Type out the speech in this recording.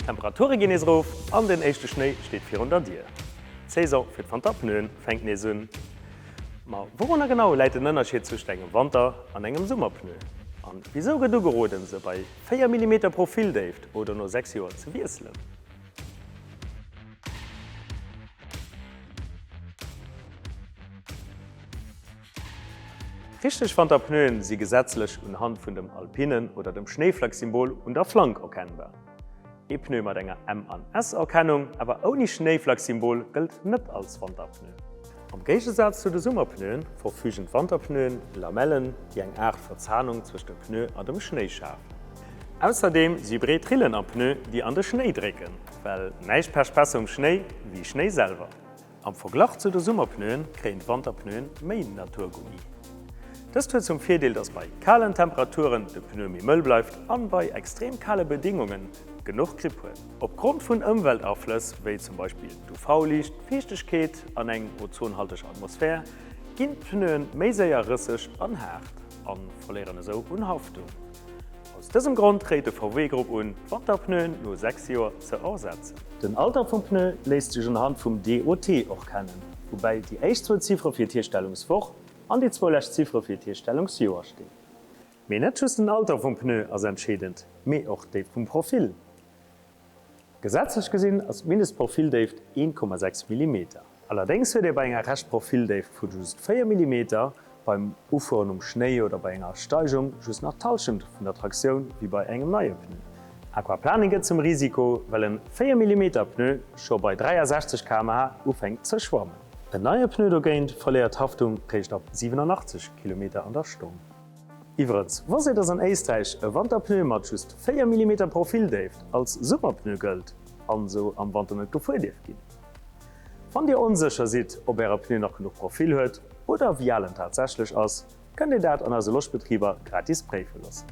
D'Temperature ginn nees erof an den éischte Schnéi steet virun der Dier. D'Saison fir d'Wanterpneuen fänkt nees un. Ma wourunner genau läit den Ënnerscheed zwëscht engem Wanter an engem Summerpneu? A wisou gëtt ugeroden, se bei 4 Millimeter Profildéift oder no 6 Joer ze wiesselen? Richteg Wanterpneuen si gesetzlech un Hand vun dem Alpinen oder dem Schnéiflacksymbol un der Flank erkennbar. Ee Pneu mat enger M an S Erkennung, awer ouni Schnéiflacksymbol gëllt net als Wanterpneu. Am Géigesaz zu de Summerpneuen verfügen d'Wanterpneuen Lamellen, déi eng Aart Verzahnung zwëscht dem Pneu an dem Schnéi schafen. Ausserdeem si breet Rillen am Pneu, déi an de Schnéi drécken, well näischt pescht besser um Schnéi wéi Schnéi selwer. Am Verglach zu de Summerpneuen kréien d'Wanterpneuen méi Naturgummi. Dëst huet zum Virdeel, dass bei kalen Temperaturen de Pneu méi mëll bleift an bei extrem kale Bedéngungen genuch Grip huet. Opgrond vun Ëmweltaflëss wéi zum Beispill d'UV-Liicht, d'Fiichtegkeet an eng ozonhalteg Atmosphär ginn d'Pneuen méi séier rësseg an haart an verléieren esou un Haftung. Aus dësem Grond réit de VW-Grupp un, d'Wanterpneuen no 6 Joer ze ersetzen. Den Alter vum Pneu léisst sech unhand vum DOT och kennen, woubäi déi éischt zwou Ziffere fir d'Hierstellungswoch an déi zwou lescht Ziffere fir d'Hierstellungsjoer stinn. Mee net just den Alter vum Pneu ass entscheedend, mee och déi vum Profil. Gesetzlech gesinn ass d'Mindestprofildéift 1,6 Millimeter. Allerdéngs huet ee bei enger Reschtprofildéift vu just 4 Millimeter, beim Ufueren um Schnéi oder bei enger Steigung just nach d'Hallschent vun der Traktioun wéi bei engem neie Pneu. Aquaplaning gëtt zum Risiko, well en 4 Millimeter Pneu scho bei 63 km/h ufänkt ze schwammen. En neie Pneu dogéint verléiert d'Haftung réischt ab 87 Kilometer an der Stonn. Iwwerens, wosst dir, dass an Éisträich e Wanterpneu mat just 4 Millimeter Profildéift als Summerpneu gëllt an esou am Wanter net gefuer dierf ginn? Wann dir onsécher sidd, ob äre Pneu nach genuch Profil huet oder wéi al en tatsächlech ass, kënnt dir dat an eise Loschbetriber gratis préife loossen.